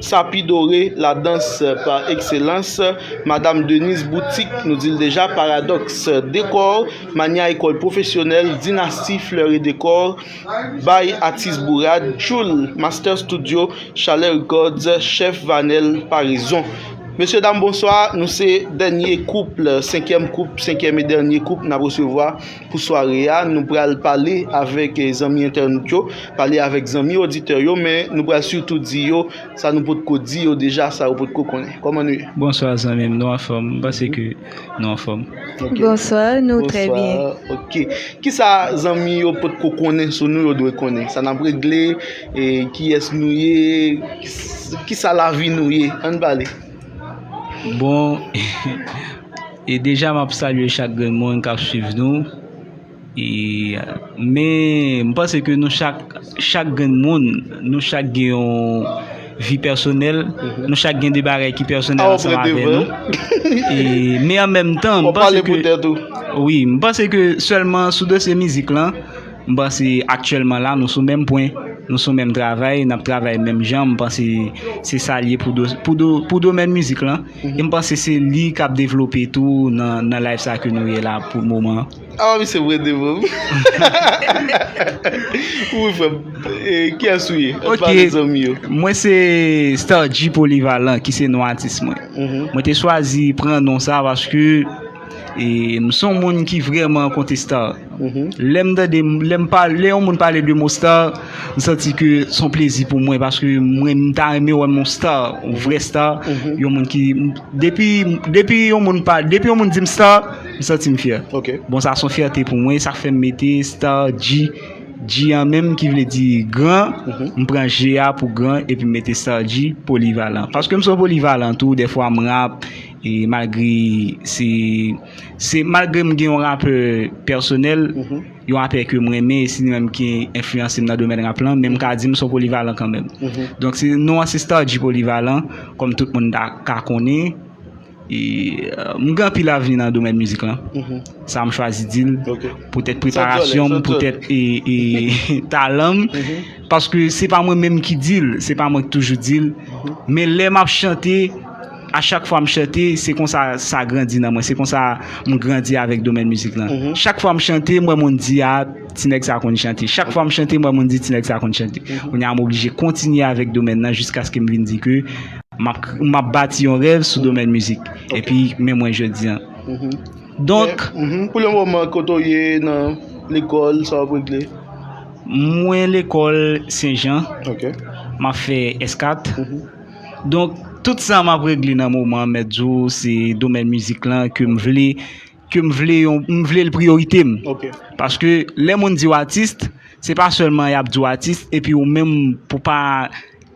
Sapidore, la danse par excellence, Madame Denise Boutique, nou di l deja, Paradoxe Decor, Mania Ecole Professionnelle, Dynastie Fleurs et Decor, By Atis Bourad, Tchoul, Master Studio, Chalè Records, Chef Vanel, Paraison. Mesye dam bonswa, nou se dènye koup, senkyèm koup, senkyèm e dènye koup n ap resevwa Pou sware a, nou pral pale avèk zanmi entènot yo, pale avèk zanmi oditè yo, men nou pral sitou di yo sa nou potko di yo deja, sa yo potko konnen. Kòman nou ye? Bonswa zanmi m, nou anfòm? M panse ke nou anfòm. Bonswa, nou trè byen. Bonswa, ok. Kisa zanmi yo potko konnen sou nou yo dwe konnen? Sa n ap regle, kiyès nou ye, kisa lavi nou ye? An n pale. Bon. E deja map salye chak grenn moun kap swiv nou e men m panse ke nou chak chak grenn moun nou chak gen yon vi pèsonèl nou chak gen de bagay ki pèsonèl ansanm avè nou e men an menm tan m panse ke wi m panse ke sèlman sou dosye mizik lan m panse aktyèlman la nou sou menm pwen nou sou menm travay nap travay menm jan m panse se sa l ye pou domèn mizik lan. M panse se li kap devlope tou nan live sa ke nou ye la pou moman an. Awa misye prete pou m. Wi frè m. Kiyès ou ye? Ann pale zanmi yo. Ok, mwen se Starji Polivalan ki se non atis mwen. Mwen te chwazi pran non sa paske. E m son moun ki vreman konte star Lè m tande Lè m pale Lè yon moun pale de mo star M santi ke s on plezi pou mwen paske mwen m ta renmen wè m yon star yon vrè star yon moun ki depi depi yon moun pa depi yon moun di m star m santi m fyè bon sa s on fyète pou mwen sa k fè m mete star G G an menm ki vle di gran m pran G a pou gran epi m mete star G polivalan paske m s on polivalan tou dèfwa m rap E malgre se se malgre m gen yon rapè pèsonèl, yon rapè ke m renmen e si li menm ki enfliyanse m nan domèn rap lan, men m ka di m se yon polivalan kanmenm. Donk se non an se Star G Polyvalent kòm tout moun ta ka konnen e m gen anpil avni nan domèn mizik lan. Sa m chwazi di l poutèt preparasyon m, poutèt e talan m paske se pa mwen menm ki di l, se pa mwen ki toujou di l men lè m ap chante A chak fwa m chante, se konsa sa grandi nan mwen. Se konsa m grandi avèk domèn mizik lan. Chak fwa m chante, m wè moun di, a, ti nèg sa a konn chante. Chak fwa m chante, m wè moun di, ti nèg sa a konn chante. Kounye a, m oblije kontinye avèk domèn lan jiskaske m vin di ke m ap bati yon rèv sou domèn mizik. Epi, men mwen jodi an. Donk. Men, pou le moman, kote w ye nan lekòl, sa w ap regle? Mwen lekòl Senjan. Ok. M ap fè S4. Donk, tout sa m ap regle nan moman an, mèt di w, se domèn mizik lan ke m vle, ke m vle yon, m vle l priyorite m. Ok. Paske, lè moun di w atis, se pa sèlman y ap di w atis, epi ou menm pou pa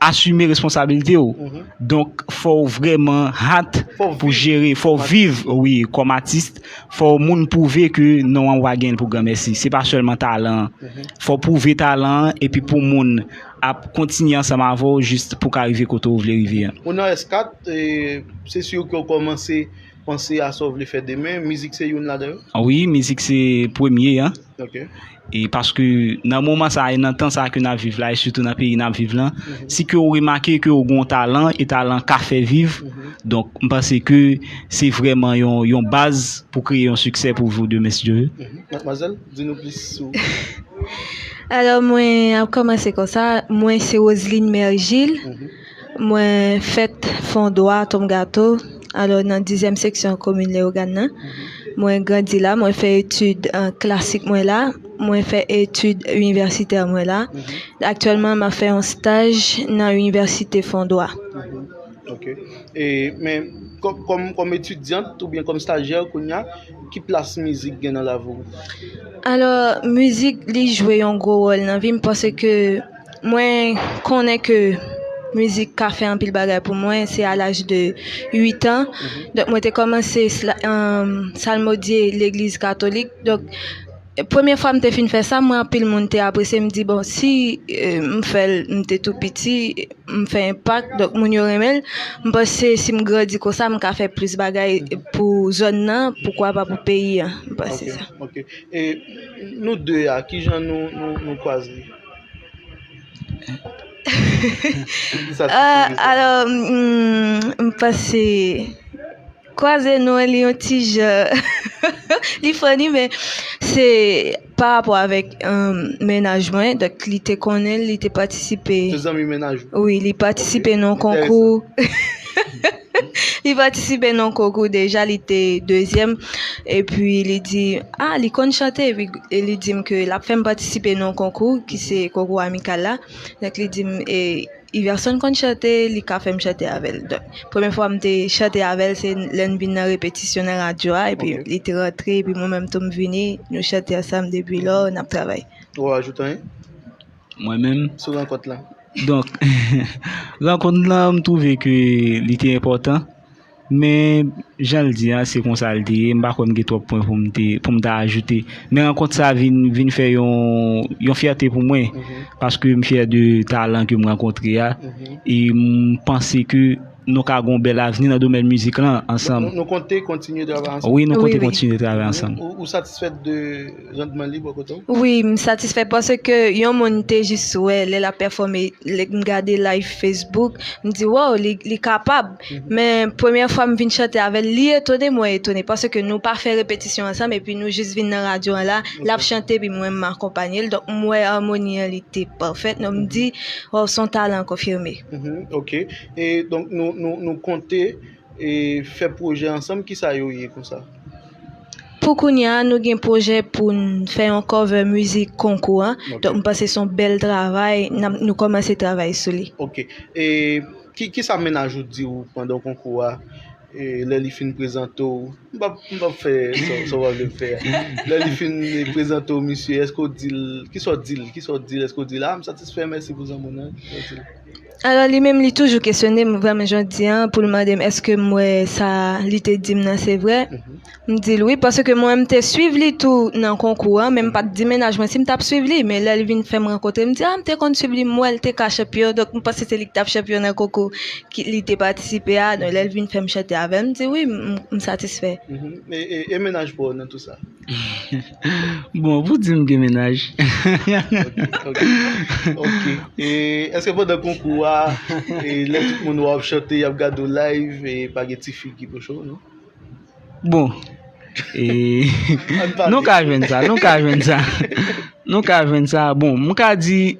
asime responsabilite ou. Donk, fò ou vrèman hat pou jere, fò ou viv, wi, kòm atis, fò ou moun pwouve ke non an ou pa gen l pou granmèsi. Se pa sèlman talan an. Fò ou pwouve talan an, epi pou moun. ap kontinye ansanm avè w jis pou w ka rive kote w vle rive an. Ou nan S4, se sur ke w kòmanse panse a sa w vle fè demen, mizik se youn ladan yo? Wi, mizik se premye an. Ok. E paske nan moman sa a e nan tan sa a ke n ap viv la e sitou nan peyi n ap viv lan, si ke w remake ke w gen yon talan e talan ka fè viv, donk m panse ke se vrèman yon baz pou kreye yon siksè pou Voudemesndieu. Matmwazèl? Di nou plis sou. Alò mwen ap kòmanse konsa, mwen se Roseline Mergile, mwen fèt Fondwa, Atomgato, alò nan dizyèm seksyon komin Leyogàn nan. Mwen grandi la, mwen fè etid klasik mwen la, mwen fè etid inivèsitè mwen la. Aktyèlman m ap fè yon staj nan inivèsite Fondwa. Ok, e men kòm etidyant oubyen kòm stajyè kounya, Ki plas mizik gen nan lavi w? Alò, mizik li jwe yon gwo wòl nan vi m paske mwen konnen ke mizik ka fè anpil bagay pou mwen. Se a laj de uitan, donk mwen te kòmanse salmodye legliz katolik. Premye fwa m te fin fè sa, m wè anpil moun te apresye, m di bon si m fè l m te tou piti, m fè enpak, donk moun yo renmen l, m panse si m grandi konsa m ka fè plis bagay pou zòn nan, poukwa pa pou peyi an, m panse sa. Ok, e nou 2 a, ki jan nou kwaze? Alò, m panse. Kwaze nou li yon ti jan li funny men se pa rapò avèk mennaj mwen donk li te konnen li te patisipe Se zanmi mennaj ou? Wi li patisipe nan konkou li patisipe nan konkou deja li te dezyèm epi li di a li konn chante epi li di m ke l ap fè m patisipe nan konkou ki se konkou amikal la donk li di m e Iverson konn chante li ka fèm chante avèl donk premye fwa m te chante avèl se lè n vin nan repetisyon nan radyo a epi li te rantre epi mwen menm tou m vini nou chante ansanm depi lò n ap travay. Ou ajoute anyen? Mwen menm? Sou rankont la? Donk rankont la m twouve ke li te enpòtan. Men, jan l di a, se konsa l te ye. M pa kwè m gen twòp pwen pou m ta ajoute. Men rankont sa vin fè yon fyète pou mwen, paske m fyè de talan ke m rankontre a, e m panse ke nou ka gen yon bèl avni nan domèn mizik lan ansanm. Nou konte kontinye travay ansanm? Wi, nou konte kontinye travay ansanm. Ou satisfèt de Randman li bò kote w? Wi, m satisfè paske yon moun m te jis wè lè l ap pèfòme, lè m gade live Facebook, m di wòw li kapab. Men premyè fwa m vin chante avè l, li etone mwen etone paske nou pa fè repetisyon ansanm epi nou jis vin nan radyo an la, l ap chante epi mwen m akonpanye l. Donk m wè amoni an li te pafèt donk m di wòw s on talan konfime. Oke, donk nou konte. e fè pwojè ansanm kisa yo ye konsa? Pou kounya nou gen pwojè poun fè yon cover mizik konkou an donk m panse son bèl travay nap nou kòmanse travay sou li. Ok e kisa mennaj ou t di ou pandan konkou a e lè li fin prezante w m pap m pap fè sa w pa vle m fè a lè li fin prezante w misye èske w dil kisa w dil kisa w dil èske w dil a m satisfè mèsi pou zanmann nan kisa w dil. Alò li menm li toujou kesyone m vrèman jodi an pou l mande m èske m wè sa li te di m nan se vrè. M di l wi paske mwen m te suiv li tou nan konkou an men m pa t di mennaj mwen si m t ap suiv li. Men lè l vin fè m rankontre l m di a m te konn suiv li m wè l te ka chanpyon donk m panse se li ki t ap chanpyon nan konkou li te patisipe a. Donk lè l vin fè m chante avè l m di wi m satisfè. E mennaj pa w nan tou sa? Bon, pou di m gen mennaj. Ok, ok. E, eske pandan konkou a, e, lè tout moun wè w ap chante, y ap gade w live, e, pa gen ti fi ki pwoche w, non? Bon, e, An n pale. nou ka jwenn sa, nou ka jwenn sa. Nou ka jwenn sa, bon, m ka di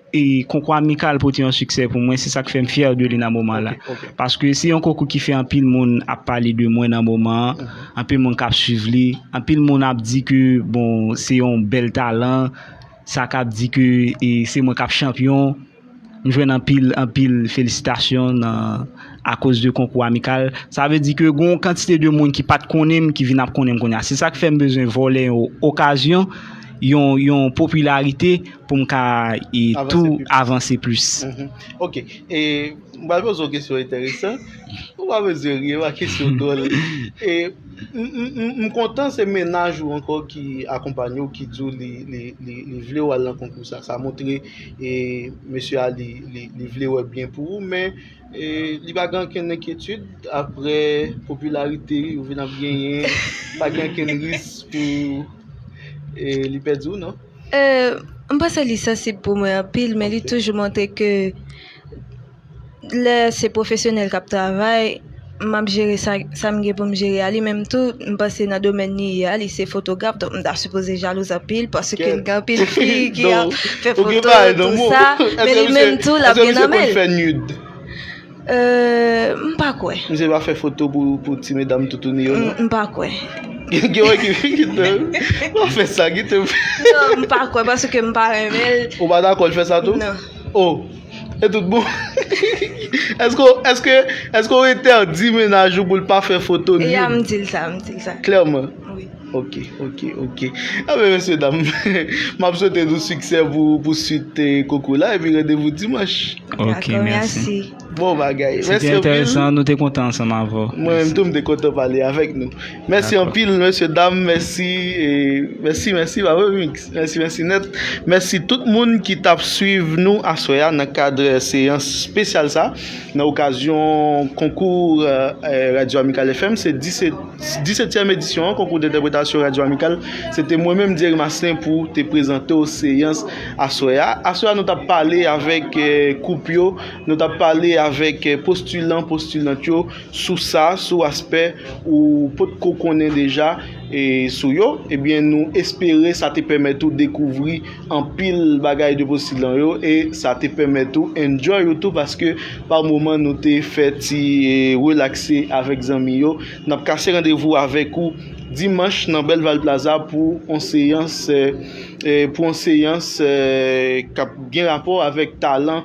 konkou amikal pote yon siksè pou mwen, se sak fè m fyè de li nan moman la. Paske se yon konkou ki fè anpil moun ap pale de mwen nan moman an, anpil moun kap swiv li, anpil moun ap di ke bon se yon bèl talan, sa kap di ke se mwen kap chanpyon. M jwenn anpil, anpil felisitasyon nan akoz de konkou amikal. Sa vle di ke gen yon kantite de moun ki pa t konnen m ki vin ap konnen m kounye a. Se sa k fè m bezwen vòlè yon okazyon, yon, yon popilarite pou m ka tou avanse plis. Ok. E, m pral poze w yon kesyon enteresan. Ou pa bezwen ri, e pa kesyon dwòl. E, m kontan se mennaj ou ankò ki akonpanye w, ki di w li, li, li vle w al nan konkou sa. Sa montre. E mesye a li vle wè byen pou ou men li pa gen ankenn enkyetid apre popilarite ou vin ap genyen pa gen ankenn ris pou li pèdi ou non? M panse li sansib pou mwen anpil men li toujou montre ke Lè se pwofesyonèl k ap travay, m ap jere sa m gen pou m jere a. Li menm tou, m panse nan domèn li ye a, li se fotograf, donk m ta sipoze jalouz anpil paske l gen anpil fi ki ap fè foto tou sa. Men li menm tou l ap gen nan men l. M pa kwè. Misye pa fè foto pou ti medam toutouni yo non? M pa kwè. Gen yon ekip fi ki te pa fè sa. Non, m pa kwè paske m pa renmen l. Ou pa dakò l fè sa tou? Non. O! E tout bon? Eske w entèdi mennaj ou pou l pa fè foto nude? E ya m di l sa, m di l sa. Klèman? Wi. Ok, ok, ok. Anben mesye dam, m ap swete nou siksè pou swit konkou la epi randevou dimanch. Ok, mèsi. Bon bagay. Mèsi anpil. Se te enteresan, nou te kontan ansanm avè w. Mwen menm tou m te kontan pale avèk nou. Mèsi anpil mesye dam, mèsi, mèsi, mèsi, bab remix. Mèsi mèsi nèt. Mèsi tout moun ki t ap swiv nou aswè a nan kad seyans spesyal sa nan okazyon konkou Radyo Amikal FM. Se disetyèm edisyon an konkou dentèpretasyon Radyo Amikal. Se te mwen menm Dyeri Maslin pou te prezante w seyans aswè a. Aswè a nou t ap pale avèk koup yo, nou t ap pale avèk postilan, postilant yo. Sous sa, sou aspè ou pot ko konnen deja sou yo, ebyen nou espere sa te pèmèt ou dekouvri anpil bagay de postilan yo e sa te pèmèt ou enjoy ou tou paske pa moman nou te fè ti relakse avèk zanmi yo. Nap kase randevou avèk ou dimanch nan Belval Plaza pou on seyans pou on seyans kap gen rapò avèk talan.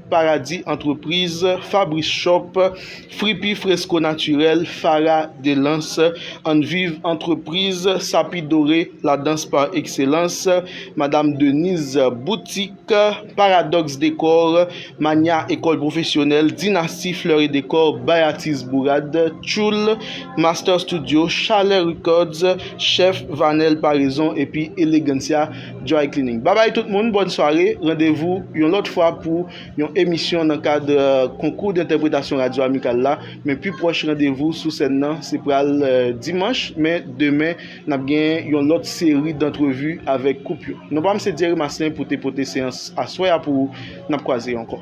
Paradis Antrepriz, Fabrice Shop, Fripi Fresco Naturel, Farah Delance, Ann Viv Antrepriz, Sapi Dore, La Danse par Excellence, Madame Denise Boutique, Paradox Decor, Mania Ecole Professionnelle, Dynastie Fleurs et Decor, Bayatis Bourade, Tchoul, Master Studio, Chalè Records, Chef Vanel Paraison epi Elegancia Dry Cleaning. Babay tout moun, bòn sware, randevou yon lòt fwa pou yon emisyon nan kad konkou dentèpretasyon Radyo Amikal la, men pi pwòch randevou sou sèn nan se pral dimanch, men demen nap gen yon lòt seri dantrevi avèk koup yo. Non pam se Dierry Maslin pou te pote seyans aswè a pou ou, nap kwaze ankò.